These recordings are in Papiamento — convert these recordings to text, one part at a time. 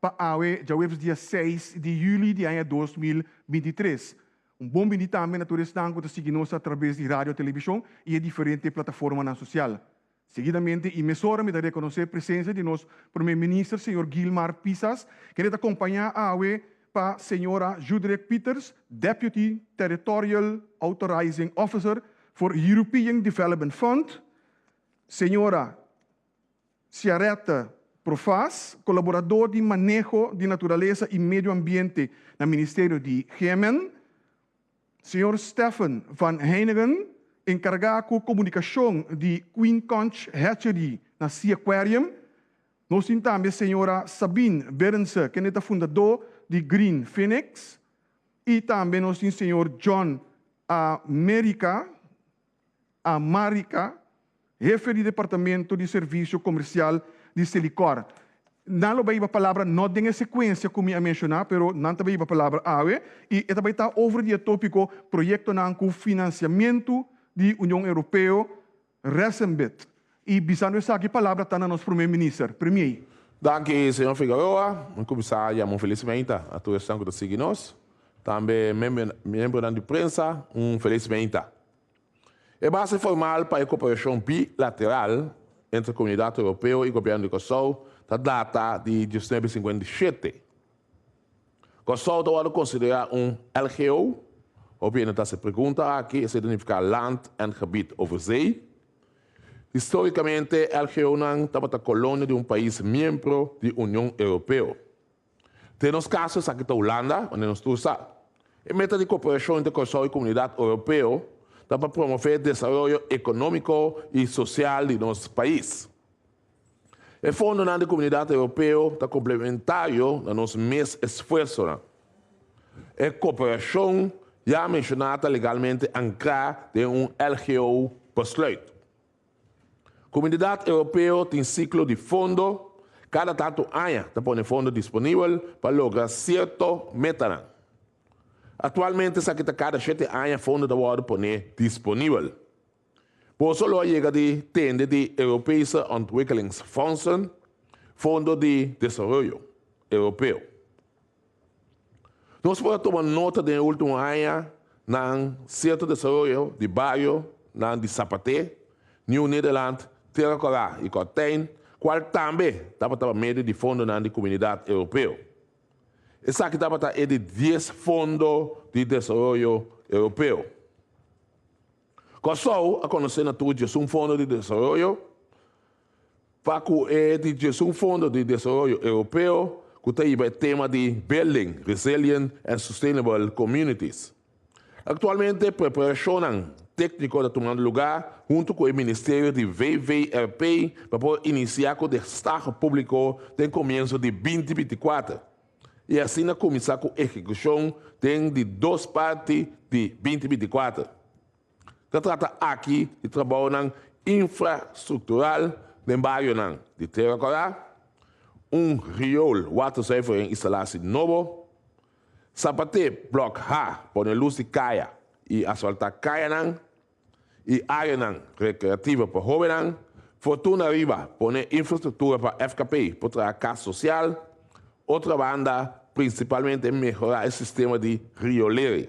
pa awe djaweps dia seis di juli di aña dos mil binti i tres. Un bon bindi tambe na tur esnan ku ta sigui nos atrabes di radio, televishon i e diferente plataformanan sosial. Seguidamente i mesora mi ta rekonosé presensia di nos Prome Minister señor Guilmar Pisas, kende ta kompañá awe pa señora Judrek Pieters, Deputy Territorial Authorizing Officer for European Development Fund, señora. Ciaretta Profas, colaborador di Maneho di Naturalesa y Medio Ambiente na Ministerio di GMN, señor Stephan van Heijneggen, encarga cu comunicacion di Queen Conch Hatchery na Sea Aquarium. Nos tin tambe señora Sabine Berendse, kende ta fundador di Green Phoenix y tambe nos tin señor John America, a Marica, hefe di departamento di servicio comercial di Selicor. Nan lo bay ba palabra no den e secuencia cu mi a menciona, pero nan ta bay ba palabra awe y e ta bay ta over di e topico proyectonan cu financiamento di Union Europeo, Resenbit. Y bisando esaki palabra ta na nos Prome Minister, Premier. Danki Señor Figueroa, mi cuminsa yama un felicimenta a tur esnan cu ta sigui nos, tambe miembronan di prensa un felicimenta. E base formal pa e cooperacion bilateral entre Comunidad Europeo y Gobierno di Curaçao ta data di diecinuebe cincuenta y siete. Curaçao ta wordo considera un LGO, hopi hende ta haci pregunta aki, esei ta nifica Land en Gebied over Zee. Histórikamente, LGOnan tabata kolonia di un pais miembro di Union Europeo. Den nos kaso esaki ta Hulanda, wande nos tur sa. E meta di koperashon entre Kòrsou i Komunidat Europeo ta pa promové desaroyo ekonómiko i sosial di nos pais. E fondonan di Komunidat Europeo ta komplementario na nos mes esfuersonan. E koperashon ya menshoná ta legalmente ankrá den un LGO besluit. Komunidat Europeo tin siklo di fondo, kada tantu aña ta pone fondo disponibel pa logra sierto metanan. Aktualmente esaki ta kada shete aña fondo ta wòrdu pone disponibel. Boso lo a yega di tende di Europese Ontwikkelingsfondsen, Fondo di Desaroyo Europeo. Nos por a tuma nota den e ultimo aña nan sierto desaroyo di bario nan di Zapaté, Nieuw Nederland, Tierra Corá i Kortijn, kual tambe tabata pa medio di fondonan di Kuminidad Europeo. Esaki tabata e di dies Fondo di Desaroyo Europeo. Kòrsou a konosé na tur djesun fondo di desaroyo, pa ku e di djesun fondo di desaroyo Europeo ku ta hiba e tema di Building Resilient and Sustainable Communities. Aktualmente preparashonnan tékniko ta tumando lugá huntu ku e ministerio di WWRP pa por inisiá ku destaho públiko den komienso di binti binti kuater. I asina kuminsá ku ehekushon den di dos parti di binti binti kuater. Ta trata aki di trabounan infrastruktural den barionan di Tera Kòrá, un riool waterzuivering instalasi nobo, Sapatee Blòk H pone lus di kaya i asfaltá kayanan, y áreanan recreativo pa hóbennan, Fortuna riba pone infrastructura pa fkp por traha cas social, otra banda principalmente mehora e sistema di riolering.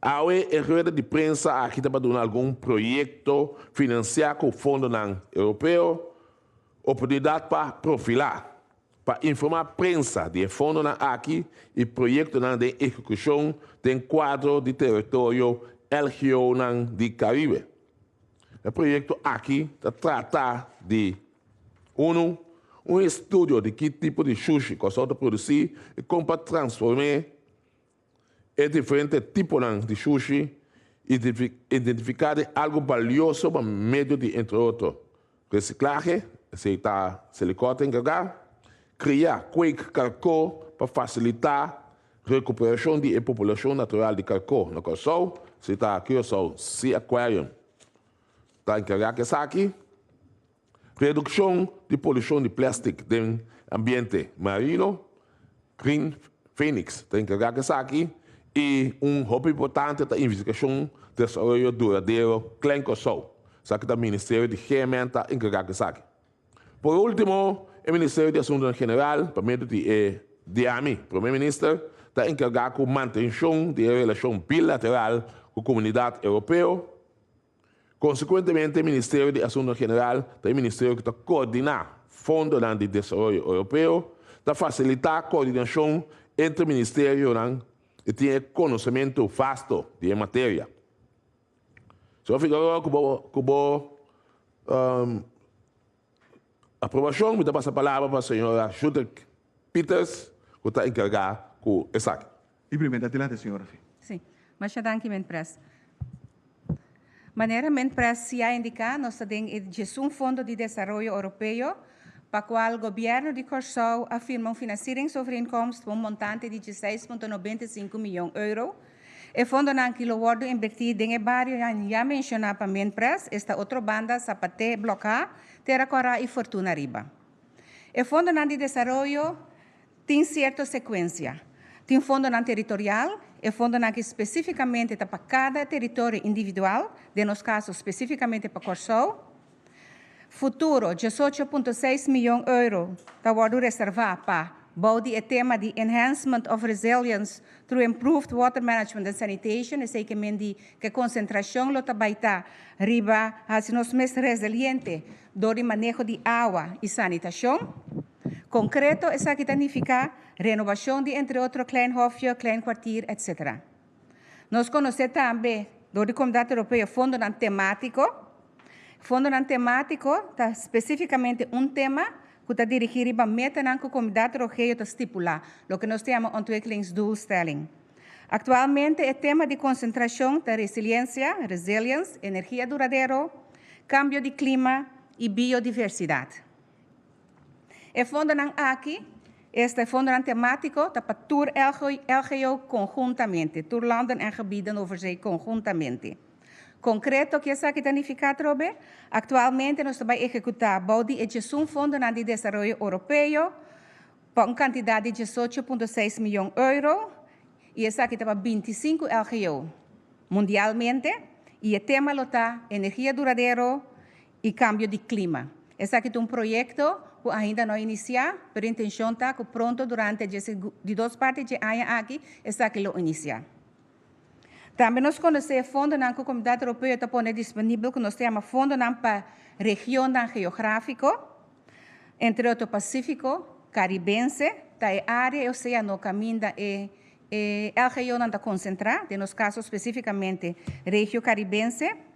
Awe e rueda di prensa aki ta pa duna algun proyecto financia cu fondonan europeo, oportunidad pa profila. pa informá prensa di e fondonan aki i proyektonan den ehekushon den kuadro di teritorio LGOnan di Karibe. E proyekto aki ta trata di, Unu, un estudio di ki tipo di shushi Kòrsou ta produsí i kon pa transform'é. e diferente tiponan di shushi i identifiká den algu balioso pa medio di entre otro, resiklahe, esei ta Selikòter enkargá, kriá, kweek, karkó pa fasilitá rekuperashon di e populashon natural di karkó na Kòrsou, esei ta Curaçao Sea Aquarium ta enkargá ku esaki. Redukshon di polushon di plèstik den ambiente marino, Green Phoenix ta enkargá ku esaki i un hopi importante ta investigashon desaroyo duradero klen Kòrsou, sa ku ta Ministerio di GMN ta enkargá ku esaki. Por último, e Ministerio di Asuntunan General, pa medio di e Diami Promé Minister, ta enkargá ku mantenshon di e relashon bilateral ku komunidat Europeo, Konsekuentemente, e Ministerio di Asuntonan General ta e ministerio ku ta koordiná fondonan di desaroyo Europeo, ta fasilitá koordinashon entre ministerionan i tin e konosementu vasto di e materia. Señor Figueroa, ku bo ku bo. aprobashon mi ta pasa palabra pa señora Schutter Peters ku ta enkargá ku esaki. E primero adelante señora Fey. Sí. Masha danki men pres. Manera men pres si a indiká nos ta den e djesun Fondo di Desaroyo Oropeo pa kual Gobièrnu di Kòrsou a firma un finansiringsovereenkomst pa un montante di djeseis punto nobenta i sinku mion euro, E fondonan ki lo wòrdu invertí den e barionan ya menshoná pa Minprest esta otro banda Zapat'é, Blòk'á, Tera Kòrá i Fortuna riba. E fondonan di desaroyo tin sierto sekuensia. Tin fondonan teritorial, e fondonan ki spesífikamente ta pa kada teritorio individual, den nos kaso spesífikamente pa Kòrsou, Futuro, diesocho punto seis miyon euro ta wòrdu reservá pa, bou di e tema di Enhancement of Resilience through Improved Water Management and Sanitation, esei ke men di ke konsentrashon lo ta bai ta riba hasi nos mes resiliente dor di maneho di awa i sanitashon. Konkreto esaki ta nifiká renobashon di entre otro Klein Hofje, Klein Kwartier, etc. Nos conoce tambe dor di Comunidad Europeo fondonan tematico. Fondonan tematico ta specificamente un tema cu ta dirigi riba metanan cu Comunidad Trogeo ta stipula, loke nos ta yama Ontwikkelingsdoelstelling. Actualmente e tema di concentracion ta Resiliencia, Resilience, Energia Duradero, Cambio di Clima y Biodiversidad. E fondonan aki, esta e fondonan temátiko, ta pa tur LGO konhuntamente, tur landen en gebied den Nova Zee konhuntamente. Konkreto ku esaki ta nifiká trobe? Aktualmente nos ta bai ehekutá bou di e djesun fondonan di desaroyo oropeo pa un kantidat di diesocho punto seis mion euro i esaki ta pa binti i sinku LGO mundialmente i e tema lo ta Energia duradero i kambio di klima. Esaki ta un proyekto ku ainda no a inisiá, pero intenshon ta ku pronto durante dje segun di dos parti di dje aña aki esaki lo inisiá. Tambe nos konosé e fondonan ku Komunidat Europeo ta pone disponibel ku nos ta yama fondonan pa regionnan geográfiko, entre otro Pasífiko, Karibense, ta e área e oseano kaminda e LGEOnan ta konsentrá, den nos kaso spesífikamente Regio Karibense.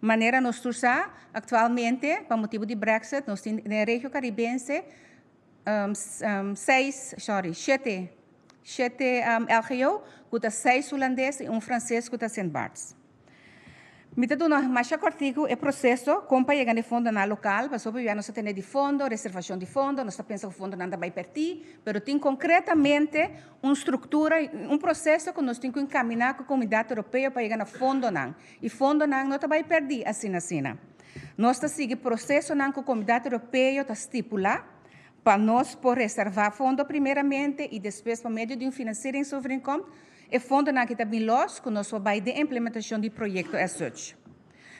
Manera nos tur sa, aktualmente pa motibu di Brexit nos tin den regio Karibense seis, sorry, shete, shete LGO ku ta seis hulandes i un franses ku ta Sint Barts. Mi ta duna masha kòrtiku e proseso kon pa yega na e fondonan lokal, pasobra biba nos ta tene di fondo, reservashon di fondo, nos ta pensa ku fondonan ta bai pèrtì, pero tin konkretamente un struktura, un proseso ku nos tin ku inkaminá ku Komunidat Europeo pa yega na fondonan. E fondonan no ta bai pèrdí asinasina. Nos ta sigui prosesonan ku Komunidat Europeo ta stipulá pa nos por reservá fondo primeramente i despues pa medio di un finansieringsovereenkomst e fondonan ki ta bin lòs ku nos por bai den implementashon di proyekto asoch.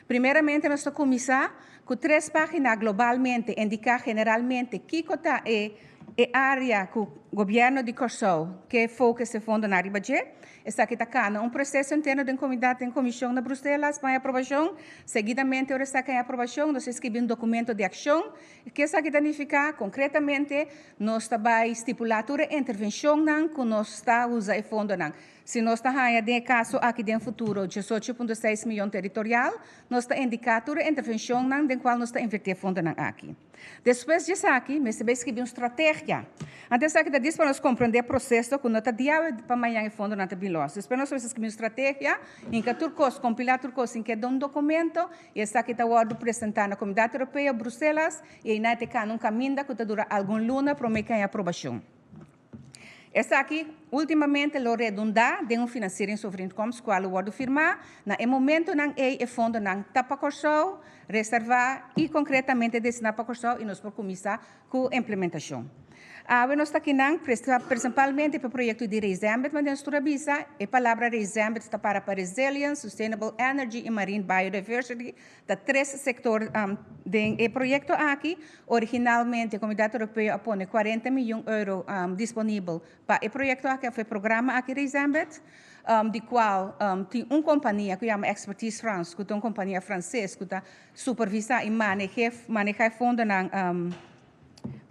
Primeramente nos ta kuminsá ku tres página globalmente indiká generalmente kiko ta e área ku Gobièrnu di Kòrsou ke fokus e fondonan riba dje. Esaki ta kana un proseso interno den komidat den komishon na Bruselas pa e aprobashon. Seguidamente ora esaki a e aprobashon nos a eskribi un dokumento di akshon. Ke esaki ta nifiká? Konkretamente nos ta bai stipulá tur e intervenshonnan ku nos ta usa e fondonan. Si nos ta haña den e kaso aki den futuro djesocho punto seis miyon teritorial, Nos ta indiká tur e intervenshonnan den kual nos ta invertí e fondonan aki. Despues di esaki, mester bai skibi un strategia. Anto esaki ta dis pa nos komprendé proseso ku no ta diawe pa mañan e fondonan ta bin los. Despues nos mester skibi un strategia, hinka tur kos, kompilá tur kos, hinka den un dokumento i esaki ta wòrdu presentá na Komunidat Europeo, Bruselas, i einan e ta e kanda un kaminda ku ta dura algun luna promé kaña aprobashon. Esaki ultimamente lo redundá den un finansieringsovereenkomst kua lo wòrdu firmá. Na e momentonan ei e fondonan ta pa Kòrsou, reservá i konkretamente destiná pa Kòrsou i nos por kuminsá ku implementashon. Awe nos ta kinan, presempalmente pa e proyekto di Reizembed, ma den su tur a bisa e palabra Reizembed ta para pa Resilience, Sustainable Energy i Marine Biodiversity, Ta tres sektor den e proyekto aki. Originalmente Komunidat Europeo a pone kuarenta miyon euro disponibel pa e proyekto aki, afe programa aki Resembled, di kual tin un kompania ku yama Expertise France ku ta un kompania franses ku ta supervisa i manehá e fondonan.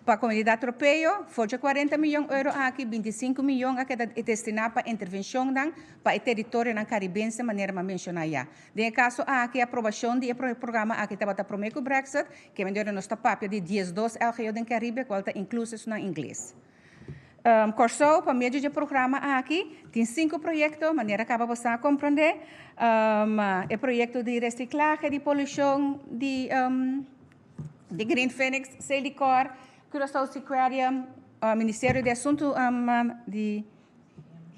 Pa komunidat Tropeo, for dje kuarenta miyon euro aki, binti sinku miyon a keda destiná pa intervenshonnan pa e teritorionan karibense manera m'a menshoná ya. Den e kaso aki, aprobashon di e programa aki tabata promé ku Brexit, kem'en dor nos ta papia di diesdos LGO den Karibe, kual ta inklui sesunnan ingles. Kòrsou, pa medio dje programa aki, tin sinku proyekto, manera kaba bo sa komprondé, e proyekto di resiklahe di polushon di. di Green Phoenix, Selicor, Curaçao Seaquarium, Ministerio di Asuntu di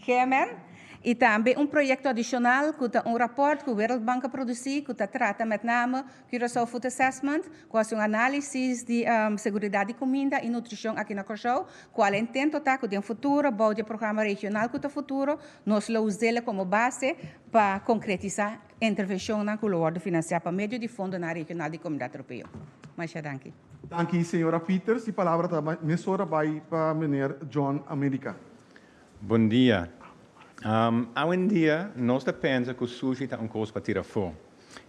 GMN y tambe un proyecto adicional cu ta un rapport cu World Bank a produci cu ta trata met name Curaçao Food Assessment cu haci un analisis di seguridad di cuminda y nutricion aki na Curaçao cual e intento ta cu den futuro bao di e programa regional cu ta futuro nos lo uzel como base pa concretisa Intervencionnan cu lo worde financia pa medio di fondonan regional di Comunidad Europeo. Masha danki. Danki señora Peters. Di palabra ta mesora bay pa meneer John America. Bon dia. Awendia nos ta pensa cu sushi ta un cos pa tira afo.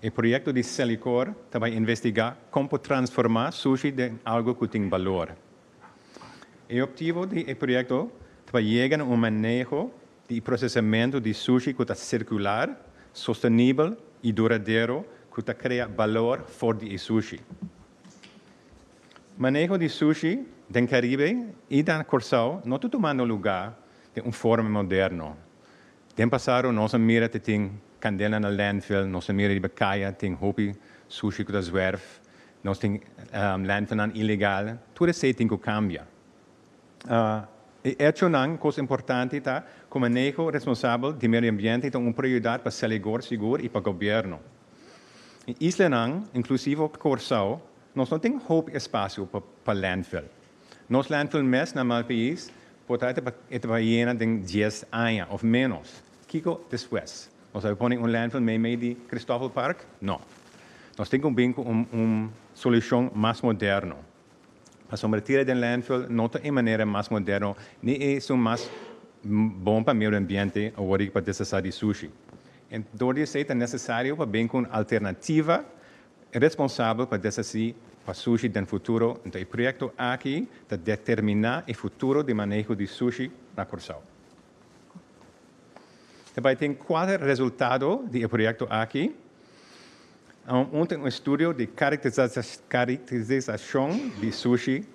E proyecto di Celicor ta bay investiga con por transforma sushi den algo cu tin balor. E optivo di e proyecto ta pa yega na un maneho di procesamentu di sushi cu ta circular, sostenibel y duradero cu ta crea balor for di e sushi. Maneho di sushi den Caribe y na Corsao no ta tumando luga den un forma moderno. Den pasado nos a mira te tin candena na landfill, nos a mira riba caya tin hopi sushi cu ta zwerf, nos tin landfillnan ilegal, tur esey tin cu cambia. E echonan kos importante ta ku maneho responsabel di medio ambiente ta un prioridat pa Seligor sigur i pa Gobierno. E islanan, inklusivo Kòrsou, nos no tin hopi espasio pa landfill. Nos landfill mes na Malpais por ta e ta pa yena den dies aña òf ménos. Kiko despues? Nos a pone un landfill meimei di Christoffel Park? No. Nos tin ku bin ku un solushon mas moderno. Pasobra e tira den landfill no ta e manera mas moderno ni esun mas bon pa meiu di ambiente awor di pa desasa di sushi. En dor di esei ta necesario pa bin cu un alternativa responsabel pa deshaci pa sushi den futuro. Nta e proyecto aki ta determina e futuro di maneho di sushi na Curcao. Ta bai tin kuater resultado di e proyekto aki. Un ta un estudio di karikterisashon di sushi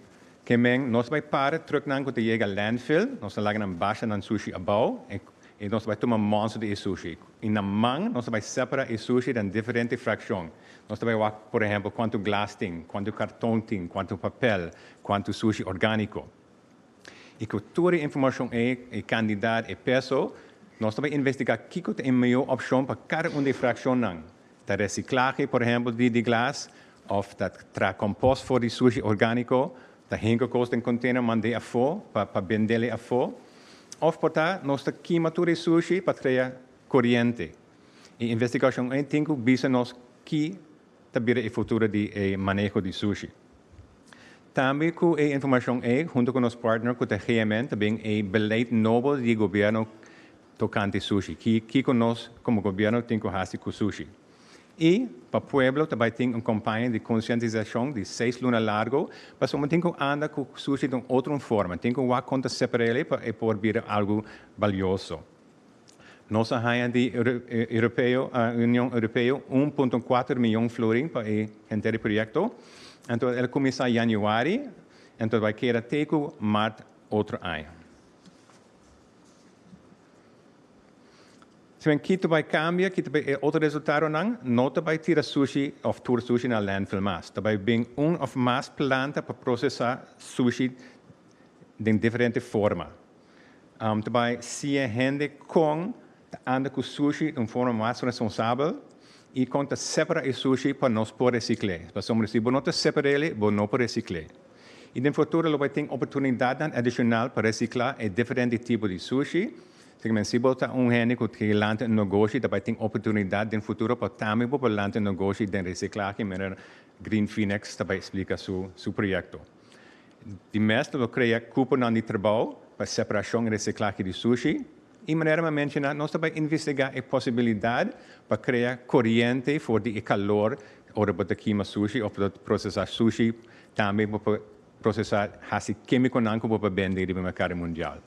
ke men nos bai para truknan ku ta yega landfill, nos ta laga nan basha nan sushi abou i nos ta bai tuma monster di e sushi. I na man nos ta bai separa e sushi den diferente frakshon. Nos ta bai wak, por ehempel, kuantu glas tin, kuantu karton tin, kuantu papel, kuantu sushi orgániko. Y cu tur e informacion ey, e cantidad, e peso, nos ta bay investiga kico ta e meyor opcion pa cada un di e fraccionnan. Ta reciclahe, por ehempel, di di glas, of ta traha compost for di sushi organico, ta hengo cos den container mand'e afo pa bende'le afo, of por ta nos ta kima tur e sushi pa crea coriente. E investigacion ey tin cu bisa nos ki ta bira e futuro di e maneho di sushi. Tambe ku e informashon ei, hunto ku nos partner ku ta GMN ta bin e beleid nobo di e gobièrnu tokante sushi, ki kiko nos komo gobièrnu tin ku hasi ku sushi. I pa pueblo ta bai tin un kompaña di konsientisashon di seis luna largo, pasobra bo tin ku anda ku sushi den otro un forma, tin ku wak kon ta separ'e pa e por bira algu balioso. Nos a haña di Union Europeo un punto kuater miyon florin pa e henter di proyekto. Anto el a kuminsá yanüari, anto bai keda te ku mart otro aña. Si men Kito bai kambia, kita bai e otro resultadonan, no ta bai tira sushi òf tur sushi na landfill mas. Ta bai bin un òf mas planta pa prosesá sushi den diferente forma. Ta bai si e hende kon ta anda ku sushi di un forma mas responsabel i kon ta separa e sushi pa nos por resikl'é. Pasobra si bo no ta separa el'i bo no por resikl'é. I den futuro lo bai tin oportunidatnan adishonal pa resikla e diferente tipo di sushi. Asigina si bo ta un hende ku ke lanta un negoshi ta bai tin oportunidat den futuro pa tambe bo por lanta un negoshi den resiklahe manera Green Phoenix ta bai eksplika su proyekto. Di mes lo lo crea cuponan di trabao pa separacion y reciclahe di sushi y manera m'a menciona nos ta bay investiga e posibilidad pa crea coriente for di e calor ora bo ta kima sushi of lo procesa sushi tambe bo por procesa haci kemiconan cu bo por bende riba mercado mundial.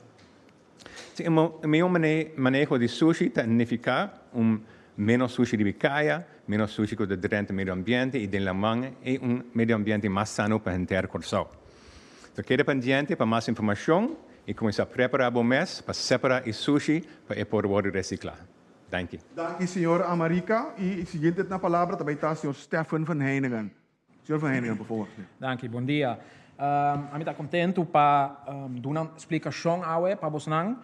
Si un mihó maneho di sushi ta nifiká un ménos sushi riba e kaya, ménos sushi ku ta drenta medio ambiente i den laman i un medio ambiente mas sano pa henter Kòrsou. So keda pendiente pa mas informashon i kuminsá prepará bo mes pa separá e sushi pa e por wòrdu resiklá. Danki. Danki señor Amarika i siguiente na palabra ta bai ta señor Stephen van Heiningen. Señor Van Heneghan, por favor. Danki, bon dia. Ami ta contentu pa duna splicacion awe pa bosnan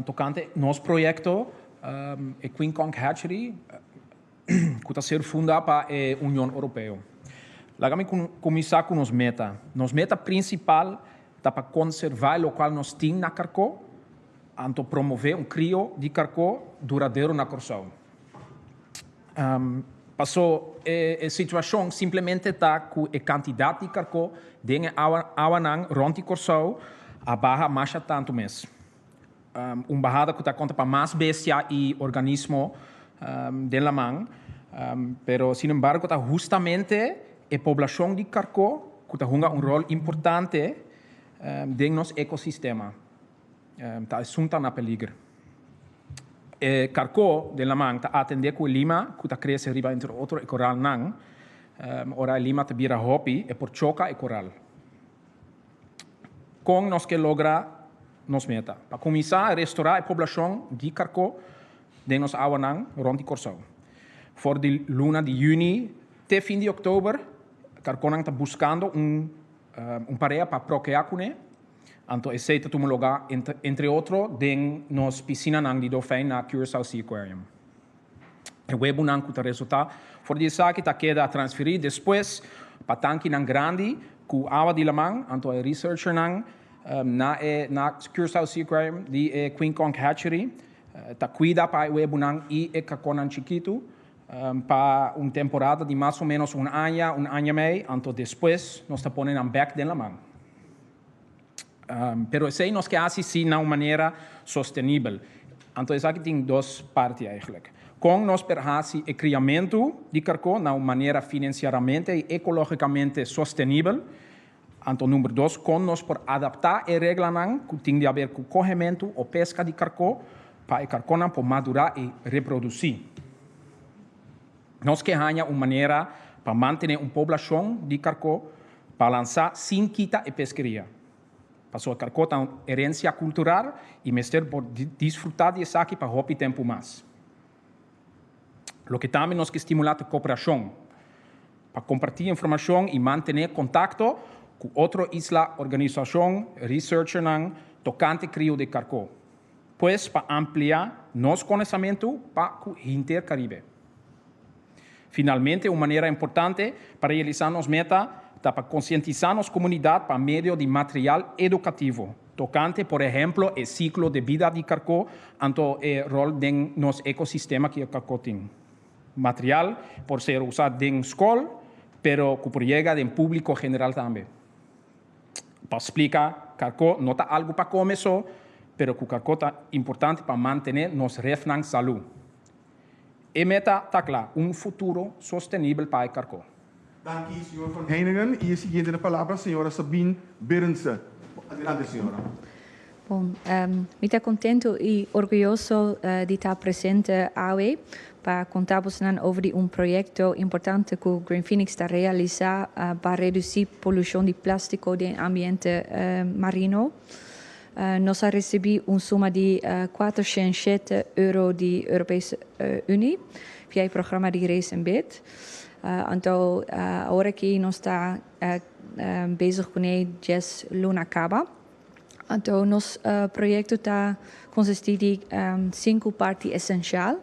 tocante nos proyecto e Queen Conch Hatchery cu ta ser funda pa e Union Europeo. Laga mi cuminsa cu nos meta. Nos meta principal ta pa conserva e local nos tin na Carco anto promove un crio di carco duradero na Corsou. Paso e situacion simplemente ta cu e cantidad di carco den e awanan rond di Corsou a baha masha tanto mes. Un bahada cu ta conta pa mas bestia y organismo den laman, pero sin embargo ta hustamente e poblacion di carco cu ta hunga un rol importante den nos ecosistema. Ta esun ta na peliger. E karko den laman ta atendé ku e lima ku ta krese riba entre otro e koralnan. Ora e lima ta bira hopi e por choka e koral. Kon nos ke logra nos meta? Pa kuminsá restorá e poblashon di karko den nos awanan rònt di Kòrsou. For di luna di yüni te fin di òktober karkonan ta buskando un parea pa prokeá kuné. Anto esei ta tuma lugá, entre otro, den nos pisinanan di dolfein na Curaçao Sea Aquarium. E webunan ku ta resultá for di esaki ta keda transferí despues pa tankinan grandi ku awa di laman. Anto e researchernan na e na Curaçao Sea Aquarium di e Queen Conch Hatchery ta kuida pa e webunan i e kakonnan chikitu pa un temporada di mas o ménos un aña, un aña mei. Anto despues nos ta pone nan bèk den laman. Pero esei nos ke hasi sí na un manera sostenibel. Anto esaki tin dos parti eigenlijk. Kon nos por hasi e kriamentu di karkó na un manera finansiaramente i ekológikamente sostenibel? Anto number dos, kon nos por adaptá e reglanan ku tin di haber ku kohementu o peska di karkó pa e karkónan por madurá i reprodusí? Nos ke haña un manera pa mantene un poblashon di karko balansá sin kita e peskeria. Pasobra karko ta un herensia kultural i mester por disfrutá di esaki pa hopi tempu mas. Loke tambe nos ke stimulá ta koperashon pa kompartí informashon i mantené kontakto ku otro isla, organisashon, researchernan tokante krio di karko. Pues pa ampliá nos konesamentu pa ku hinter Karibe. Finalmente un manera importante pa realisá nos meta ta pa konsientisá nos komunidat pa medio di material edukativo tokante por ehemplo e siklo de bida di karko anto e rol den nos ekosistema ku e karko tin. Material por ser usá den skol pero ku por yega den públiko general tambe. pa splica carco no ta algo pa come so, pero cu carco ta importante pa mantene nos refnan salu. E meta ta cla, un futuro sostenibel pa e carco. Danki señor Van Heiningen y e siguiente na palabra señora Sabine Berendse. Adelante señora. Bon, mi ta contento y orguyoso di ta presente awe pa conta bosonan over di un proyecto importante cu Green Phoenix ta realisa pa reduci polucion di plastico den ambiente marino. Nos a recibi un suma di cuater shen shete euro di Europese Unie via e programa di Raise and Bid. Anto awor aki nos ta bezig cu ne dies luna caba. Anto nos proyekto ta konsistí di sinku parti esensial.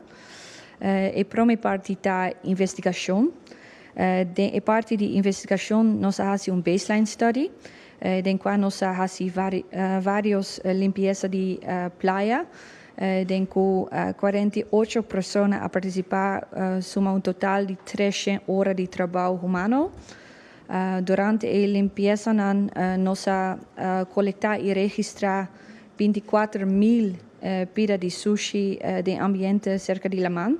E prome parti ta investigashon. Den e parti di investigashon nos a hasi un baseline study den kua nos a hasi vários limpiesa di playa den ku kuarenta i ocho persona a partisipá suma un total di tres shen ora di trabou humano. Durante e limpiesanan nos a kolektá i registrá binticuater mil pida di sushi den ambiente serka di laman.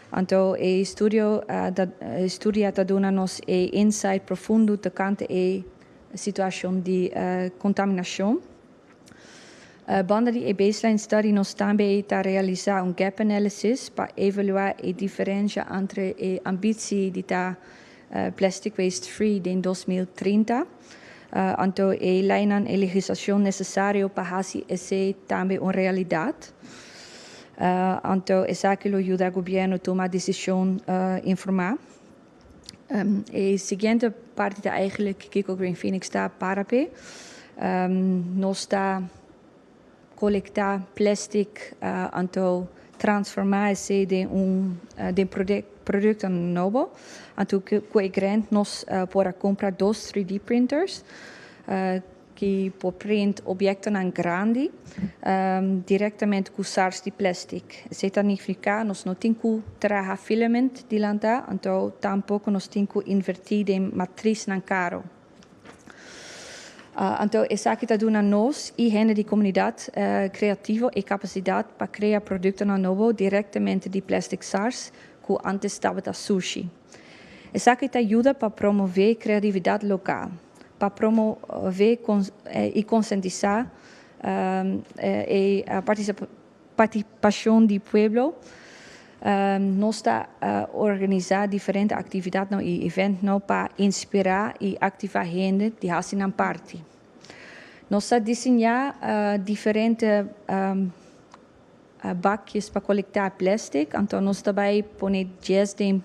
Anto e studio ta studia ta duna nos e insight profundo tokante e situashon di kontaminashon. Banda di e baseline study nos tambe ta realisá un gap analysis pa evaluá e diferensha antre e ambitsi di ta Plastic Waste Free den dos mil trinta. Anto e leinan e legislacion necesario pa haci esey tambe un realidad. Anto esaki lo yuda Gobierno tuma decision informa. E siguiente parti ta eigenlijk kico Green Phoenix ta para p'e. Nos ta Kolektá plèstik anto transformá esei den un den produkto nobo. Anto ku e grènt nos por a kumpra dos trid printers ku por print obiektonan grandi direktamente ku sars di plèstik. Esei ta nignifiká nos no tin ku traha filament di lantá anto tampoko nos tin ku invertí den matrisnan karo. Anto esaki ta duna nos y hende di comunidad creativo e capacidad pa crea productonan nobo directemente di plastic sars cu antes tabata sushi. Esaki ta yuda pa promove creatividad local, pa promove y consentisa e participacion. Partisipashon di pueblo, Nos ta organisá diferente aktividatnan i eventnan pa inspirá i aktivá hende di hasi nan parti. Nos ta disiñá diferente bakjes pa kolektá plèstik, anto nos ta bai pone djes den.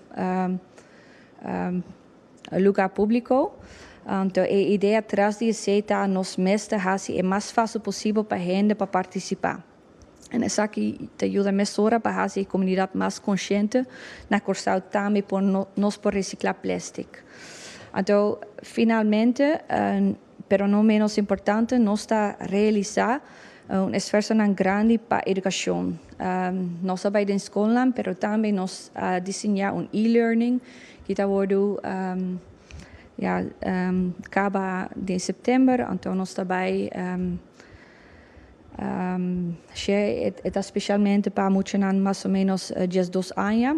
Lugar públiko, Anto e idea tras di esei ta nos mes ta hasi e mas fásil posibel pa hende pa partisipá. En esaki ta yuda mesora pa hasi e komunidat mas konshente na Kòrsou tambe por nos por resiklá plèstik. Anto finalmente. Pero no ménos importante, nos ta realisá un esfuersonan grandi pa edukashon. Nos a bai den skolnan, pero tambe nos a disiñá un e-learning ki ta wordu kaba den sèptèmber. Anto nos ta bai. She, E ta speshalmente pa muchanan mas o ménos dies dos aña.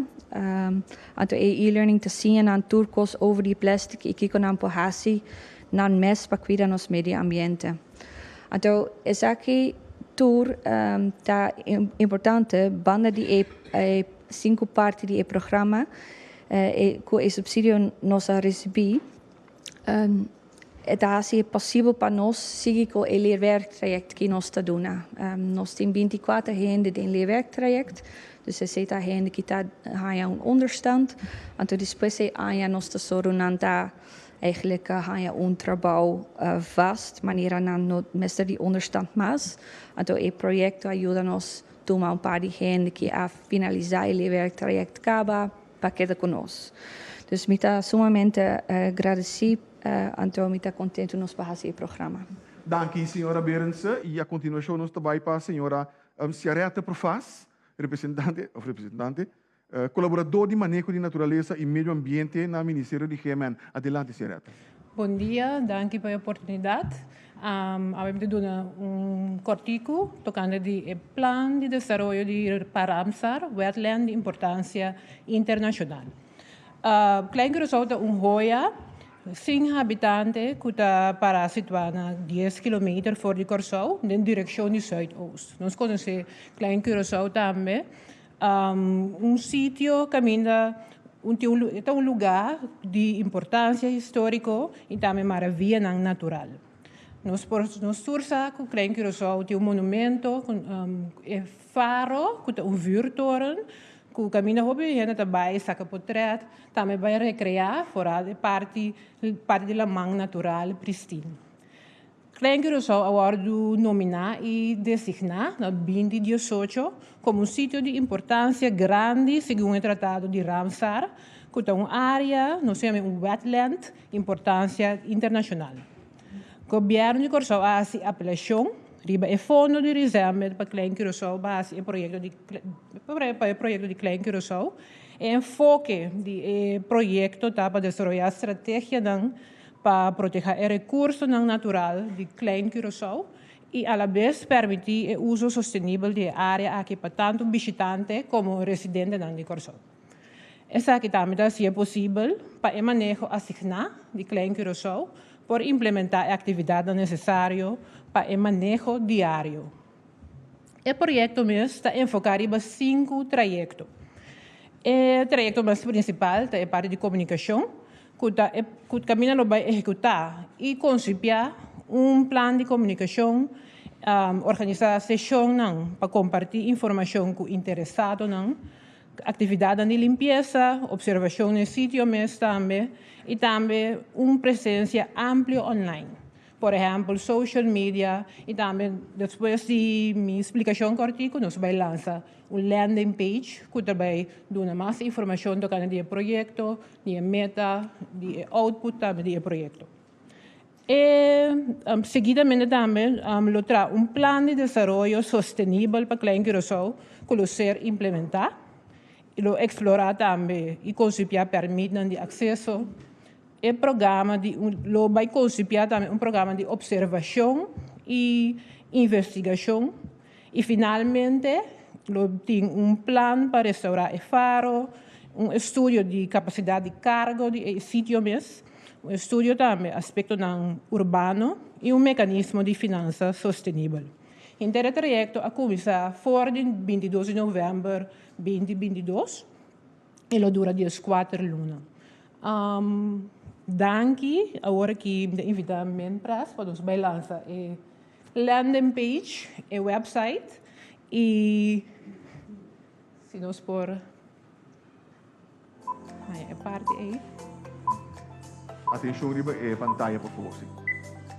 Anto e e-learning ta siña nan tur kos over di plèstik i kiko nan por hasi nan mes pa kuida nos medio ambiente. Anto esaki tur ta importante banda di e sinku parti di e programa ku e supsidio nos a risibí. E ta hasi e posibel pa nos sigui cu e leerwerktraject ki nos ta duna. Nos tin binticuater hende den leerwerktraject, dus esey ta hende ki ta hanja un onderstand, anto despues e aña nos ta soro nan ta eigenlijk hanja un trabao vast, manera nan no mester di onderstand mas. Anto e proyecto a yuda nos tuma un par di hende ki a finalisa e leerwerktraject caba. pa keda ku nos. Dus mi ta sumamente gradesí anto mi ta kontentu nos pa hasi e programa. Danki señora Berendse y a continuacion nos ta bay pa señora Ciaretta Profaas, Representante, of Representante, Colaborador di Maneho di Naturalesa y Medio Ambiente na Ministerio di GMN. Adelante Ciaretta. Bon dia, danki pa e oportunidad. Awe mi ta duna un corticu tocante di e plan di desaroyo di pa Ramsar wetland di importancia internacional. Klein Curacao ta un hoya sin habitante cu ta para situa na dies kilometer for di Corsou den direccion di suid-oost. Nos conoce Klein Curacao tambe Un sitio kaminda un tin un e ta un lugá di importansia históriko i tambe maravianan natural. Nos por nos tur sa ku Klein Curaçao tin un monumentu ku e faro ku ta un vuurtoren ku kaminda hopi hende ta bai saka potrèt, tambe bai rekreá foral e parti parti di laman natural pristin. Klein Curaçao a wòrdu nominá i designá na binti diesocho komo un sitio di importansia grandi segun e Tratado di Ramsar, ku ta un área, nos ta yama un wetland, importansia internashonal. Gobièrnu di Kòrsou a hasi apelashon riba e fondo di Risenbed pa Klein Curaçao pa hasi e proyekto di pa e proyekto di Klein Curaçao. E enfoke di e proyekto ta pa desaroyá strategianan pa proteha e rekursonan natural di Klein Curaçao i alabes permití e uso sostenibel di e área aki pa tantu bishitante komo residentenan di Kòrsou. Esaki tambe ta hasié posibel pa e maneho asigná di Klein Curaçao por implementá e aktividatnan nesesario pa e maneho diario. E proyekto mes ta enfoká riba sinku trayekto. E trayekto mas prinsipal ta e parti di komunikashon ku ta e ku kaminda lo bai ehekutá i konsipiá un plan di komunikashon, organisá seshonnan pa kompartí informashon ku interesadonan, aktividatnan di limpiesa, opservashon na e sitio mes tambe i tambe un presensia amplio online. Por ehempel social media y tambe despues di mi splicacion cortico nos bay lansa un landing page cu ta bay duna mas informacion tocante di e proyecto, di e meta, di e output tambe di e proyecto. E seguidamente tambe lo traha un plan di desaroyo sostenibel pa Klein Curacao cu lo ser implementa y lo explora tambe y consipiá permitnan di acceso, E programa di lo bay concipiá tambe un programa di observacion y investigacion y finalmente lo tin un plan pa restaurá e faro, un estudio di capacidad di cargo di e sitio mes, un estudio tambe aspectonan urbano y un mecanismo di finansa sostenibel. Henter e trayecto a cuminsa for di bintidos di november binti bintidos. e lo dura dies kuater luna. Danki, awor ki mi ta invita men pres pa nos bai lansa e landing page, e website i si nos por haña e parti ei. Atenshon riba e pantaya por favor si.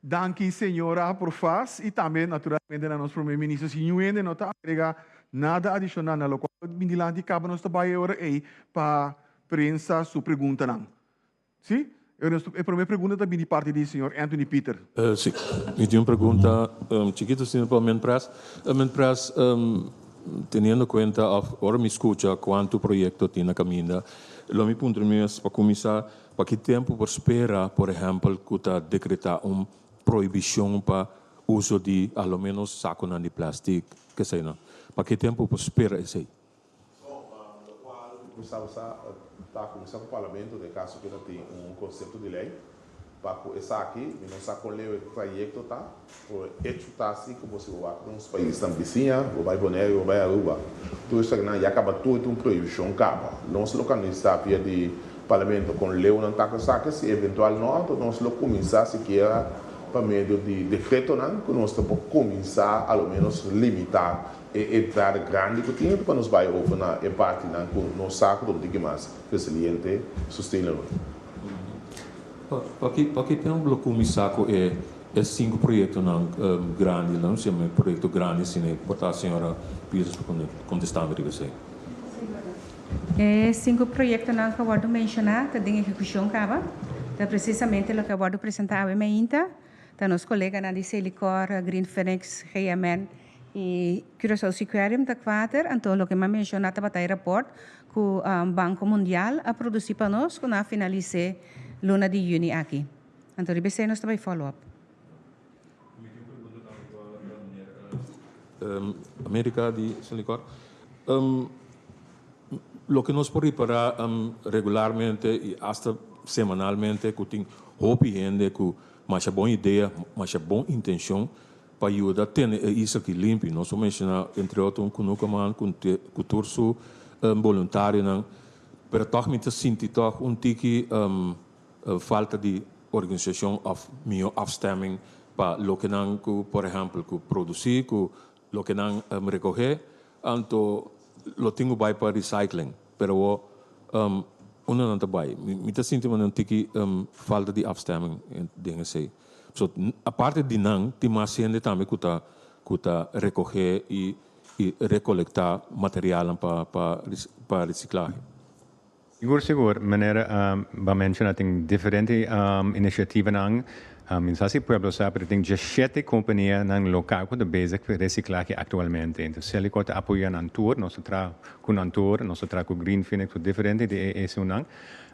Danki Señora por fas y tambe naturalmente na nos Prome Minister si nuende no ta agrega nada adicional na locual ta bini dilanti caba nos ta bay e ora ey pa prensa su preguntanan. Si? E prome pregunta ta bini parti di Señor Anthony Pieter. Si. Mi tin un pregunta chikito si mi por men pres. Men pres teniendo cuenta of ora mi scucha cuanto proyecto tin na caminda lo mi puntra mi mes pa cuminsa Pa ki tempu por spera, por ehèmpel, ku ta dekretá un prohibishon pa uso di alo ménos sakunan di plèstik, keseinan? Pa ki tempu por spera esei? Forma di kual ku por sa usá ta ku kuminsá ku Parlamento, na e kaso ku e ta tin un konsepto di lei, pa ku esaki mi no sa kon leu e trayekto ta. Bo a hecho ta así cu bo si bo bai pa nos paisnan bisiña, bo bai Bonaire, bo bai Aruba, tur esaki nan ya caba tur tin un prohibición caba. Nos lo canisa via di Parlamento con leunan ta cu esaki si eventual no anto nos lo cuminsa sikiera pa medio di decretonan cu nos ta por cuminsa a lo menos limita e entrada grandi cu tin riba nos bai over na e partinan cu nos sa cu ta un tiki mas resiliente y sustainable. Pakico no lo cuminsa cu e E sinku proyektonan grandi la, no siemper mi proyekto grandi asina i por ta. Señora Peters por kontestami riba esei. E sinku proyektonan ku a wòrdu menshoná ta den ehekushon kaba. Ta presisamente loke a wòrdu presentá awe mainta. Ta nos koleganan di Selikor, Green Phoenix, GMN i Curaçao Seaquarium ta kuater. Anto loke mi a menshoná tabata e rapòrt ku Banko Mundial a produsí pa nos ku nan a finalis'é luna di yüni aki. Anto riba esei nos ta bai follow up. America di Sin Licor. Loke nos por ripara regularmente y hasta semanalmente cu tin hopi hende cu masha bon idea, masha bon intencion pa yuda tene e isla aki limpi. Nos por menciona entre otro un cunuco man cu tur su boluntarionan pero toch mi ta sinti toch un tiki. falta di organisacion of mihó afstemming pa loke nan cu por ehempel cu produci cu loke nan recohe anto lo tin cu bay pa recycling pero awo unda nan ta bay mi ta sinti nan tiki falta di afstemming den esey so aparte di nan tin mas hende tambe cu ta cu ta recohe y recolecta materialnan pa pa reciclahe. Sigur sigur, meneer Van menshona tin diferente initiativanan, mi no sa si pueblo sa pero tin diecisiete companianan local cu ta bezig cu reciclahe actualmente. Entonces Celicourt ta apoya nan tur, nos ta traha cu nan tur, nos ta traha cu Green Phoenix, cu diferente di e esunnan.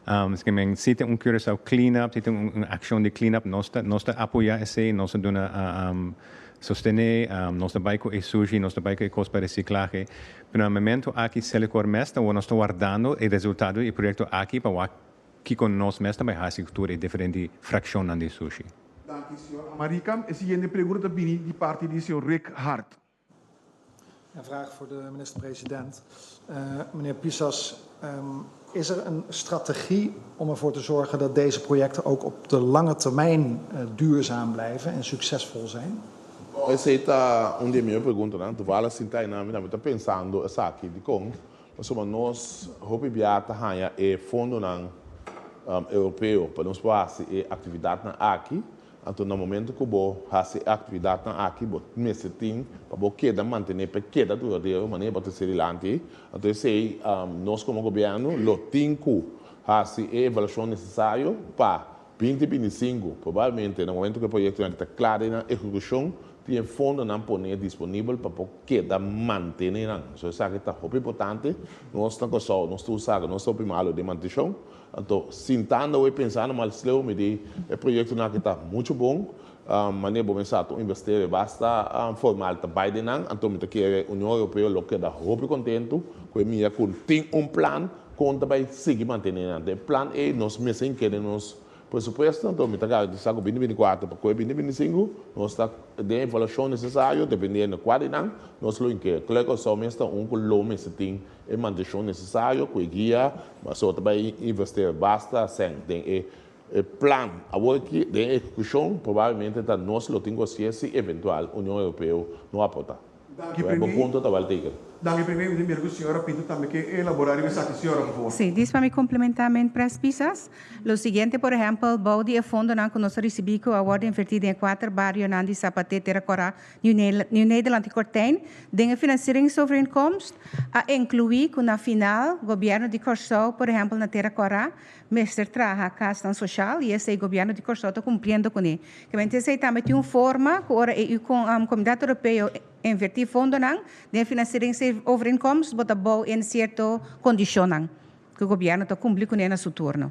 Esaki men si tin un Curaçao clean up, si tin un accion di clean up nos ta nos ta apoya esey, nos ta duna sostene, nos ta bay cu e sushi, nos ta bay cu e cos pa reciclahe. Pero na memento aki Selecor mes ta wor nos ta wardando e resultado di e proyecto aki pa wak kiko nos mes ta bay haci cu tur e diferente fraccionnan di Sushi. Danki, señor Amaricam. E siguiente pregunta ta bini di parti di señor Rick Hart. Een vraag voor de minister-president. Meneer Pisas, Is er een strategie om ervoor te zorgen dat deze projecten ook op de lange termijn duurzaam blijven en succesvol zijn? Esey ta un di e mihó preguntanan. Toevallig sintá hiernan mi tambe ta pensando esaki dikon pasobra nos hopi biaha ta haña e fondonan Europeo pa nos por hasi e actividadnan aki. Anto na momento cu bo haci e actividadnan aki bo mester tin pa bo keda mantene pa e keda duradero manera bo ta sirilanti. Anto esey nos como gobierno lo tin cu haci e evaluacion necesario pa binti binti sinku. Probablemente na momento cu e proyectonan aki ta clara y na ehecucion tin e fondonan pone disponibel pa bo keda mantenenan. So esaki ta hopi importante. Nos na Curaçao nos ta usa nos ta hopi malo den mantencion. Anto, sintando awor i pensando mal sleu mi di e proyektonan aki ta muchu bon. Mane bo mester sa ku un investero e basta formal ta bai den nan. Anto mi ta kere Union Europeo lo keda hopi kontentu ku e mira ku tin un plan kon ta bai sigui mantené nan. Den e plan ei nos mes a inkeri nos presupuesto. Anto mi ta garantisá ku bini binikuater pa kue bini binisinku nos ta den e evaluashon nesesario dependiendo kua di nan nos lo inkeri. Klèr ku Kòrsou mester un ku lo mester tin E mantenshon nesesario ku e guia Maseo ta bai investera basta sèn den e plan. Awor aki den e ejekushon probablemente ta nos lo tin ku hasié si eventual Union Europeo no aportá. Ku e bo punto ta wèl teken. Danki Premi. Mi ta mira ku señora Pinto tambe ke elaborá riba esaki, señora, por favor. Sí, dis pa mi komplementá men tres pisas. Lo siguiente, por ehèmpel, bou di e fondonan ku nos a risibí ku awor ta invertí den e kuater barionan di Sapaté, Tera Kòrá, New Nederland i Kortijn den e finansieringsovereenkomst a inclui cu na final Gobierno di Corsou, por ehempel na Tera Cora, mester traha casnan social y esey Gobierno di Corsou ta cumpliendo cun e. Kib'entu esey tambe tin un forma cu ora e Comunidad Europeo inverti fondonan den e finansieringsovereenkomst bo ta bou un cierto condicionnan cu Gobierno ta cumpli cun e na su turno.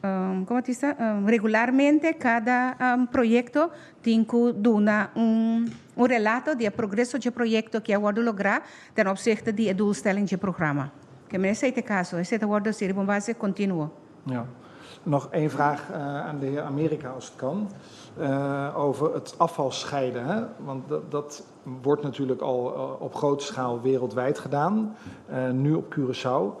Como ta bisa? Regularmente cada proyecto tin cu duna un relato di e progreso dje proyecto cu a wordo logra ten opsigte di e doelstelling dje programa. Ke men esei ta e caso. Esei ta wordo hasi riba un base continuo. Ja. Nog één vraag aan de heer Amerika, als het kan, over het afval scheiden. Want dat wordt natuurlijk al op grote schaal wereldwijd gedaan, nu op Curaçao.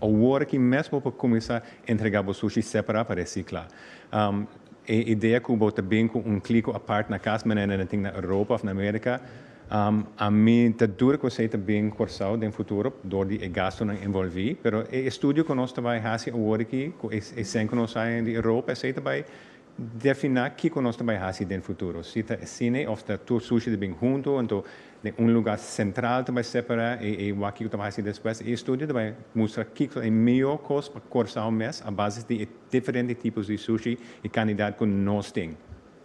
Awor aki mes bo por cuminsa entrega bo sushi separa pa recicla. E idea cu bo ta bin cu un clico apart na cas menen na tin na Europa of na America, ami ta duda cu esey ta bin Corsao den futuro door di e gastonan envolvi. Pero e estudio cu nos ta bay haci awor aki cu e cen cu nos sa hen di Europa esey ta bay Definá kiko nos ta bai hasi den futuro, si ta esine òf ta tur sushi ta bin huntu, anto den un lugá sentral ta bai separá i i wak kiko ta bai hasi despues. E estudio ta bai mustra kiko e mihó kos pa Kòrsou mes a basis di e diferente tipos di sushi i kandidat ku nos tin.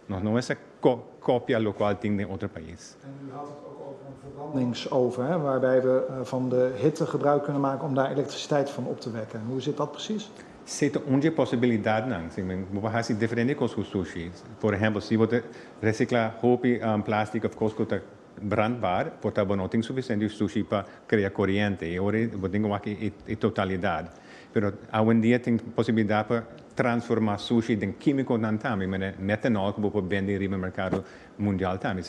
Nos no mester ko kopia lokual tin den otro pais. En u had het ook over een verbrandingsoven, hè, waarbij we van de hitte gebruik kunnen maken om daar elektriciteit van op te wekken. Hoe zit dat precies? Se ta un dje posibilidadnan, si men bo por hasi diferente kos ku sushi. Por ehèmpel, si bo ta resikla hopi plástik òf kos ku ta brandbar, por ta bo no tin sufisiente sushi pa krea koriente i ora bo tin ku wak e totalidat. Pero awendia tin posibilidat pa transformá sushi den kímikonan tambe, manera metanòl ku bo por bende riba merkado mundial tambe.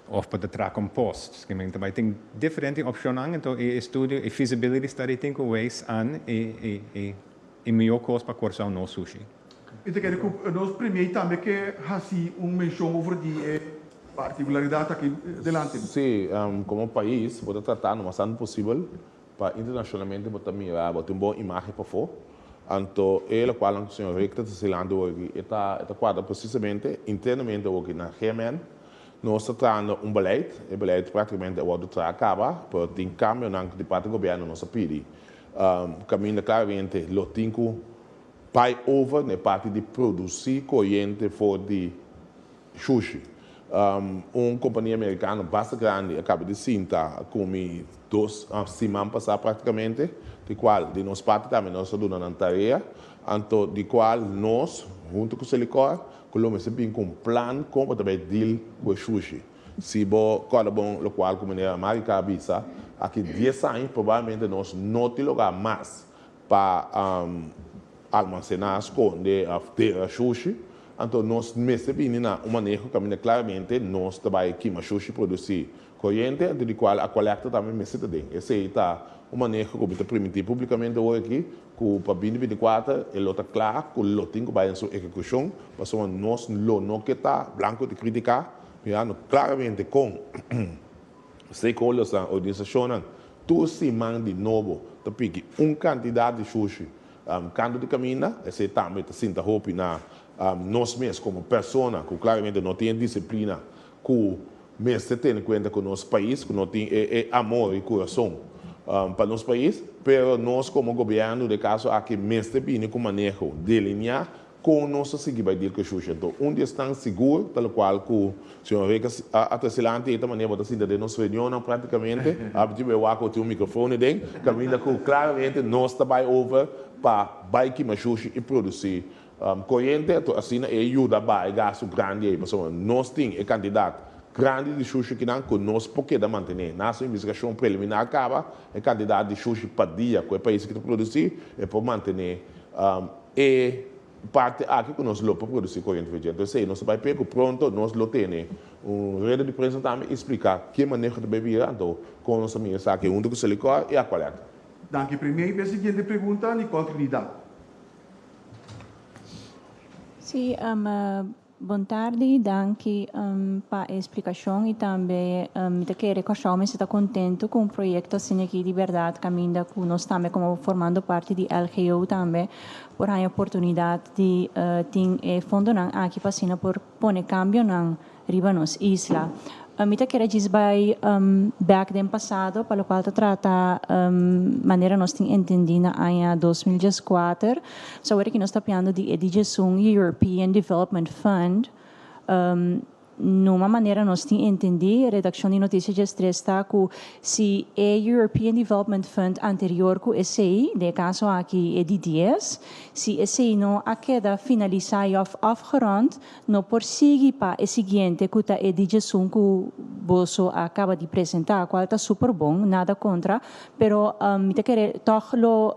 Of pa ta traha con post. Skin men ta bay tin diferente opcionnan ento e estudio e feasibility study tin cu wees an e miyo cos pa Corsou no sushi. Mi ta kere cu nos premier tambe ke haci un mencion over di e particularidad aki delante. Sí, como pais bo ta trata lo mas antes posibel pa internacionalmente bo ta mira bo tin bon imagen pafo. Anto e locual cu señor Rick ta ta silandu aki e ta cuadra precisamente internamente aki na GMN. Nos ta trahando un beleid, e beleid practicamente a wordo traha caba, pero tin cambionan di parti gobierno nos a pidi. Caminda claramente lo tin cu bay over na e parti di produci coyente for di shushi. Un compania Americano basta grandi a caba di sinta a cumi dos siman pasa practicamente, di cual di nos parti tambe nos a duna nan tarea, anto di cual nos hunto cu Selicor ku lo mester bin ku un plan kon bo ta bai deal ku e shushi. Si bo kòrda bon lokual ku Miner America a bisa, aki dies aña probablemente nos no tin lugá mas pa almansená, skonde òf tera shushi. Anto nos mester bini na un manera ku kaminda klaramente nos ta bai kima shushi produsí Koriente antes di cual a colecta tambe mester ta den. Esey ta un maneho cu mi ta primití publicamente hoy aki cu pa bini binticuater e lo ta cla cu lo tin cu bay en su ehecucion pasobra nos lo no ke ta blanco di critica mirando claramente con stakeholdersnan, organisacionnan, tur siman di nobo ta piki un cantidad di shushi cantu di caminda. Esey tambe ta sinta hopi na nos mes como persona cu claramente no tin e disciplina Ku mester tene kuenta ku nos pais ku no tin e e amor i kurason pa nos pais, pero nos komo gobièrnu den e kaso aki mester bini ku maneho, deliniá kon nos ta sigui bai dil ku e shushi. Anto un di esnan sigur, talokual ku señor Reeker a trese lanti ei ta manera bo ta sinta den nos reunionnan praktikamente, Abitiba e wak ku bo tin un mikrofoon eden, kaminda ku klaramente nos ta bai over pa bai kima shushi i produsí Coyente eto asina e yuda baha e gastu grandi ei pasobra nos tin e cantidad grandi di shushi kinan cu nos por keda mantene. Na nos investigacion preliminar caba e cantidad di shushi pa dia cu e pais aki ta produci e por mantene e parte aki cu nos lo por produci coyente fritje. Entonces esei nos ta bay p'e cu pronto nos lo tene un redo di prensa tambe y splica ki maneho ta bay bira anto con nos ta mira esaki hunto cu Selicor y Aqualed. Danki Premier. P'e siguiente pregunta Nicole Trinidad. Sí, bon tardi y danki pa e explicacion y tambe mi ta kere kòrsou mi esta contento cu un proyecto asina aki di berdad caminda cu nos tambe como formando parti di LGO tambe por haña oportunidad di tin e fondonan aki pa asina por pone cambionan. riba nos isla. Mi ta kere djis bai bek den pasado pa lokual ta trata manera nos tin entendi na aña dos mil djes kuater. So awor aki nos ta piando di e dijesun European Development Fund. Numa manera nos tin entendi redakshon di notisie djes tres ta ku si e European Development Fund anterior ku esei, den e kaso aki e di dies, si esei no a keda finalisa i òf afgerond, No por sigui pa e siguiente cu ta e DJ Sun cu boso a caba di presenta, cual ta super bon, nada contra, pero mi ta kere toch lo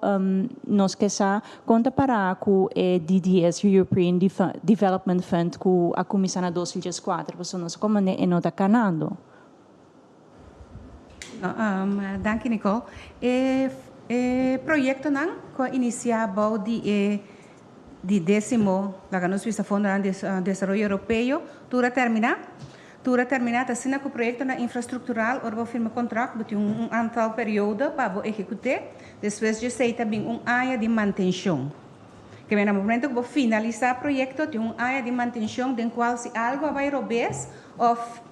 nos ke sa con ta para cu e DDS Reopreen Development Fund cu a cuminsa na dos mil dieskuater, pasobra nos a comand'e e no ta canando. Danki Nicole. E proyectonan cu a inicia bao di e di decimo, laga nos bisa, Fondonan di Desaroyo Europeo, tur a termina. Tur a termina ta asina cu proyectonan infrastructural, ora bo firma contract bo tin un antal periodo pa bo ehecuté, despues djesei ta bin un aña di mantencion. Keme na momento cu bo finalisa proyecto tin un aña di mantencion den cual si algo a bay robes of.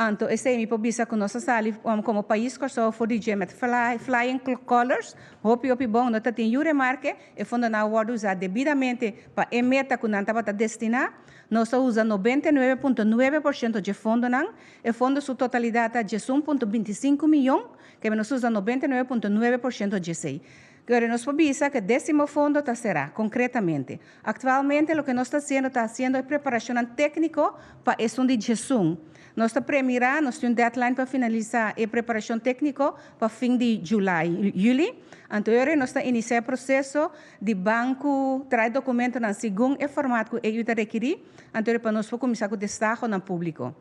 Anto esei mi por bisa ku nos a sali komo pais Kòrsou for di dje met flying colors, hopi hopi bon. No tatin yu remarke, e fondonan a wòrdu usá debidamente pa e meta ku nan tabata destiná. Nos a usa nobenta i nuebe punto nuebe por shento dje fondonan. E fondo su totalidat ta diesun punto binti sinku miyon, kebia nos usa nobenta i nuebe punto nuebe por shento dje esei. Pero nos por bisa cu e decimo fondo ta cera, concretamente. Actualmente loke nos ta haciendo ta haciendo e preparacionnan tecnico pa esun di djesun. Nos ta premira, nos tin un deadline pa finalisa e preparacion tecnico pa fin di july, juli, anto e ora nos ta inicia e proceso di banco trae documentonan segun e format cu AU ta requiri, anto e ora pa nos por cuminsa cu destahonan publico.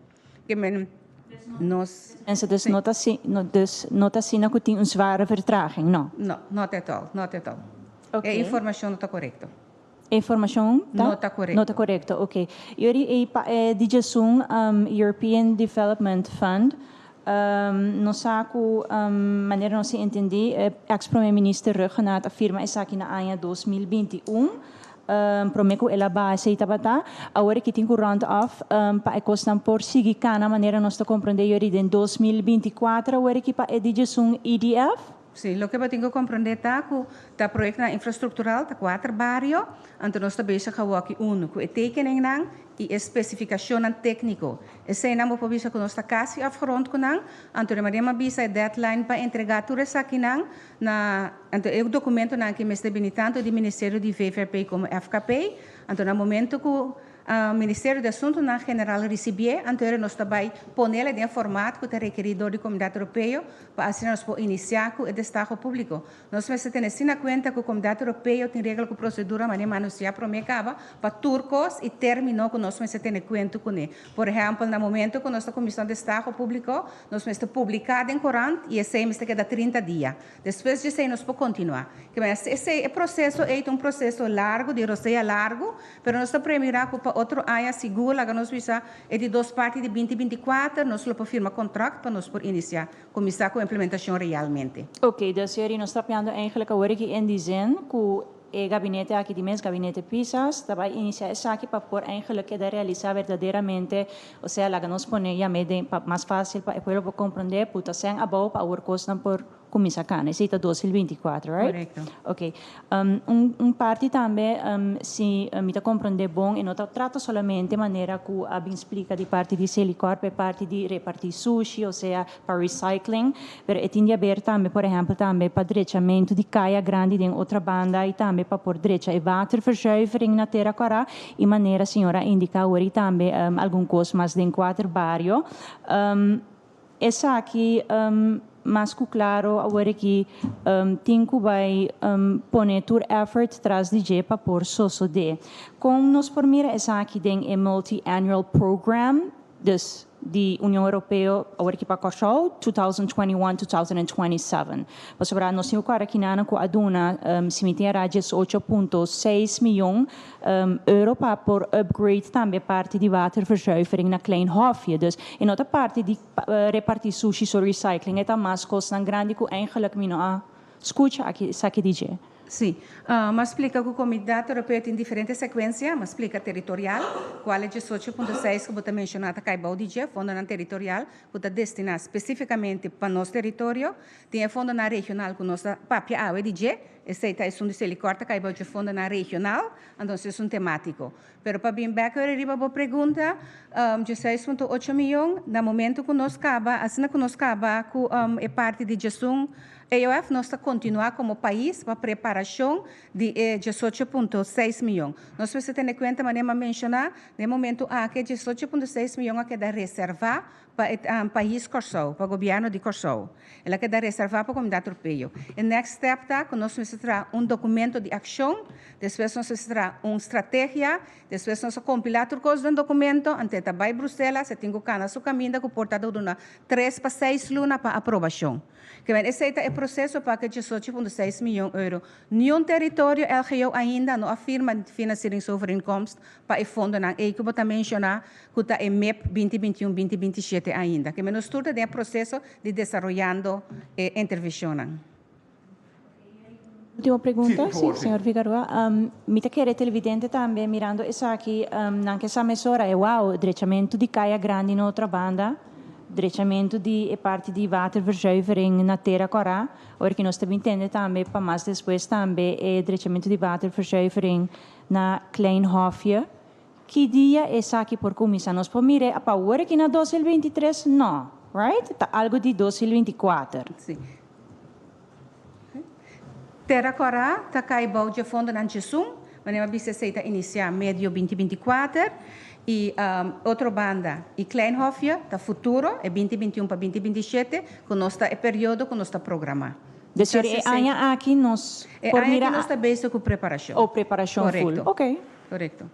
ke men nos. Mense dus no ta si, no dus no ta asina ku tin un zware vertraging, no? No, not at all, not at all. Oké. E informashon no ta korekto. E informashon ta. No ta korekto. No ta korekto, oké. Yo di ei pa e di djasun European Development Fund, nos sa ku manera nos a entendé, eks Prome Minister Ruggenaat a firma esaki na aña dos mil binti un, Prome cu el a base y tabata, awor aki tin cu round off pa e cosnan por sigui cana manera nos ta comprende yori den dos mil binti cuater awor aki pa e digesun EDF. Si, loke bo tin cu comprende ta cu ta proyectonan infrastructural, ta cuater bario, anto nos ta bezig awaki uno cu e tekeningnan y e specificacionnan tecnico. Eseinan bo por bisa cu nos ta casi afgerond cu nan, anto de manera mi a bisa e deadline pa entrega tur esakinan Na anto e dokumentonan aki mester bini tanto di Ministerio di VVRP komo FKP. Anto na momento ku Ministerio di Asuntunan General risibié, anto era nos ta bai pone la den format ku ta rekerí dor di Komunidat Europeo pa asina nos por inisiá ku e destaho públiko. Nos mester tene asina kuenta ku Komunidat Europeo tin regla ku prosedura mané manusiá promé kaba pa tur kos i término ku nos mester tene kuento kuné. Por ehèmpel, na momentu ku nos ta kuminsá un destaho públiko, nos mester publiká den korant i esei mester keda trinta dia. Despues di esei nos por kontinuá. Ke mester esei, e proseso ei ta un proseso largu, di rosea largu, pero nos ta prei mirá ku pa otro aña, si Google laga nos bisa e di dos parti di binti binti kuater, nos lo por firma kontrakt pa nos por inisiá, kuminsá ku implementashon realmente. Oke, Desiori, nos ta piando eingelijk awor aki en Disen ku. E gabinete aki di mes, Gabinete Pisas, ta bai inisiá esaki pa por eindelijk keda realisá berdaderamente, osea laga nos pone yam'é den pa mas fásil pa e pueblo por komprondé, puta sèn abou pa awor kosnan por kuminsá kana. Esei ta dos mil binti kuater, right? Korekto. Oké. Un un parti tambe, si mi ta komprondé bon, e no ta trata solamente manera ku a bin splika di parti di Celicorp, e parti di repartí sushi, osea pa recycling, pero e tin di haber tambe por ehempel tambe pa drechamentu di kaya grandi den otra banda y tambe pa por drecha e waterverzuivering na Tera Kora y manera señor a indica awor y tambe algun cos mas den cuater bario. Esaki mas cu claro awor aki tin cu bay pone tur effort tras di dje pa por sosode. Con nos por mira esaki den e multi-annual program? Dus. di Union Europeo awor aki pa Còrsou, 2021-2027. Pasobra nos tin ku kuadra kinanan ku a duna simi tin era diesocho punto seis mion euro pa por upgrade tambe parti di waterverzuivering na Klein Hofje. Dus e no ta parti di reparti sushi, so recycling e ta mas kosnan grandi ku eingelik mi no a. Scucha aki esaki di dje. Sí. M'a splica cu comida europeo tin diferente secuencia. M'a splica territorial, cual e diesocho punto seis cu bo ta menciona ta cay bao di dje fondonan territorial cu ta destina specificamente pa nos territorio. Tin e fondonan regional cu nos ta papia awe di dje. Esey ta esun di Selicor ta cay bao dje fondonan regional, anto si es un tematico. Pero pa bin bek ora riba bo pregunta, diesseis punto ocho miyon, na momento ku nos kaba, asina ku nos kaba ku e parti di Djesun AOF, nos ta kontinuá komo pais pa preparashon di e diesocho punto seis miyon. Nos mester tene kuenta, manera mi a menshoná, na e momentu aki e diesocho punto seis miyon a keda reservá, Pa e pais Kòrsou, pa gobièrnu di Kòrsou. El a keda reservá pa Komunidad Tropeyo. E next step ta ku nos mester traha un dokumento di akshon, despues nos mester traha un strategia, despues nos a kompilá tur kos den dokumento, anto e ta bai Bruselas, e tin ku kana su kaminda ku por ta dudu na tres pa seis luna pa aprobashon. Kiemen esei ta e proseso pa kechesochi punto seis miyon euro. Niun teritorio LGO ainda no a firma finansieringsovereenkomst pa e fondonan ei ku bo ta menshoná ku ta e mep binti binti un, binti binti shete ainda. Kiemen nos tur ta den e proseso di desaroyando e enterveshonnan. Ultimo pregunta, si, señor Figaroa. Mi ta kere televidente tambe mirando esaki, nan ke sa mesora e wou drechamentu di Kaya Grandi na otro banda, drechamentu di e parti di waterverzuivering na Tera Kora, oor ke nos ta bin tende tambe pa mas despues tambe e drechamentu di waterverzuivering na Klein Hofje. Ki dia esaki por kuminsa? Nos por mire a pa wor aki na dos hil binti tres? No, right? Ta algo di dos hil binti kuater. Si. Tera Kòrá ta kai bou dje fondonan Chesún, manera mi a bisa esei ta inisiá medio binti binti kuater, i otro banda e Kleinhofje ta futuro, e binti binti un pa binti binti shete, ku nos ta e periodo ku nos ta programá. Desir e aña aki nos por mira. E aña aki nos ta bezig ku preparashon. O preparashon ful. Korekto.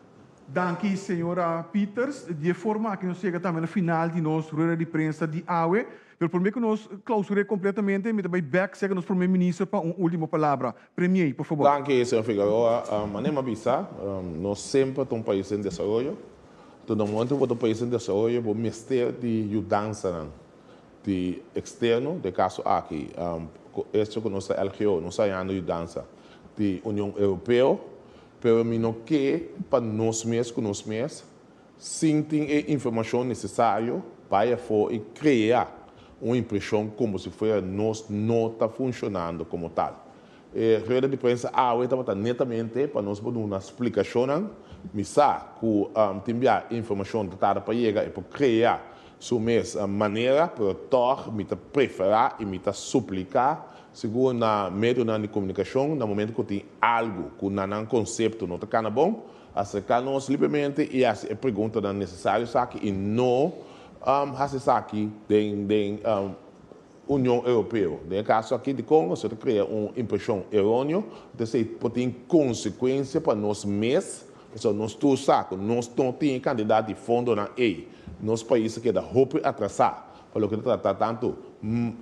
Danki señora Pieters. Di e forma aki nos yega tambe na final di nos rueda di prensa di awe. Pero por mei cu nos clausur'é completamente, mi ta bai bek seca nos Prome Minister pa un ultimo palabra. Premiei, por fabor. Danki, Señor Figueroa. Manera mi a bisa, nos semper ta un pais en desaroyo. Enton, den momento cu bo ta un pais en desaroyo, bo mester di yudansanan di externo. Den e caso aki, cu esto cu nos ta LGO, nos ta hayando yudansa di Union Europeo. Pero mi no ke pa nos mes cu nos mes. Sin tin e informashon nesesario, bai afó i krea un impreshon komo si fuera nos no ta funshonando komo tal. E rueda di prensa awe tabata netamente pa nos por duna splikashonnan. Mi sa ku tin bia e informashon ta tarda pa yega, e por krea su mes manera, pero tòg mi ta preferá i mi ta supliká sigur na medionan di komunikashon na momentu ku tin algu ku na nan konsepto no ta kana bon, Acerca nos libremente y haci e preguntanan necesario esaki y no haci esaki den Union Europeo. Den e caso aki dicon nos lo ta crea un impresion eroneo, ta esey por tin consecuencia pa nos mes, pasobra nos tur sa cu nos no tin e cantidad di fondonan ey, nos pais ta keda hopi atrasa. Pa loke ta trata tantu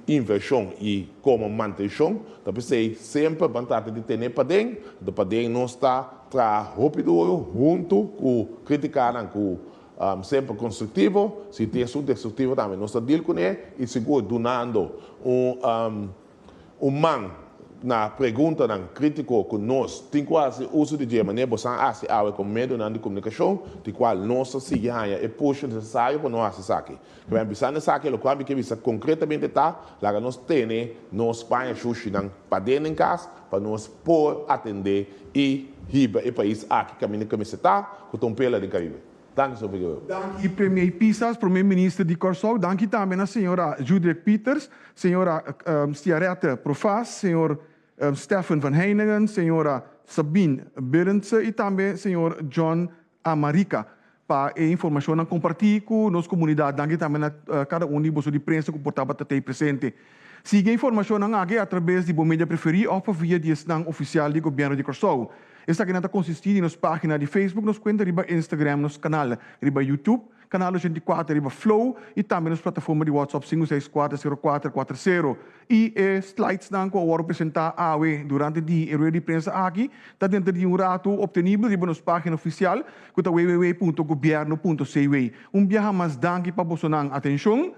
invershon i komo mantenshon, ta p'esei semper ban trata di tene paden, anto paden nos ta traha hopi duru huntu ku kritikanan ku semper konstruktivo, si tin esun destruktivo tambe nos ta dil kuné i sigur dunando un Un man na preguntanan crítico cu nos tin cu haci uso di dje manera boso a haci awe con medionan di comunicacion, di cual nos ta sigui haña e push necesario pa nos haci esaki. Kiba mi a bisa na esaki, loke ami kier bisa concretamente ta, laga nos tene nos paña shushinan paden den cas pa nos por atende y hiba e pais aki caminda camiseta cu ta un pela den Caribe. Danki Sor Figueroa. Danki Premier Pisas, Premier Minister di Kòrsou, danki tambe na señora Judrek Pieters, señora Stiarette Profaas, señor Stephen van Heiningen, señora Sabine Berendse i tambe señor John Amarika pa e informashonnan kompartí ku nos komunidat. Danki tambe na kada un di boso di prensa ku por tabata t'ei presente. Sigui e informashonnan aki a trabes di bo media preferí òf pa via di esnan ofisial di Gobièrnu di Kòrsou. Esakinan ta konsistí di nos página di Facebook, nos kuenta riba Instagram, nos kanal riba Youtube, kanal ochenta i kuater riba Flow i tambe nos plataforma di WhatsApp sinku seis kuater sero kuater kuater sero. I e slides-nan ku a wòrdu presentá awe durante di e rueda di prensa aki ta denter di un ratu optenibel riba nos página ofisial ku ta www punto gobierno punto cw. Un biaha mas danki pa bosonan atenshon.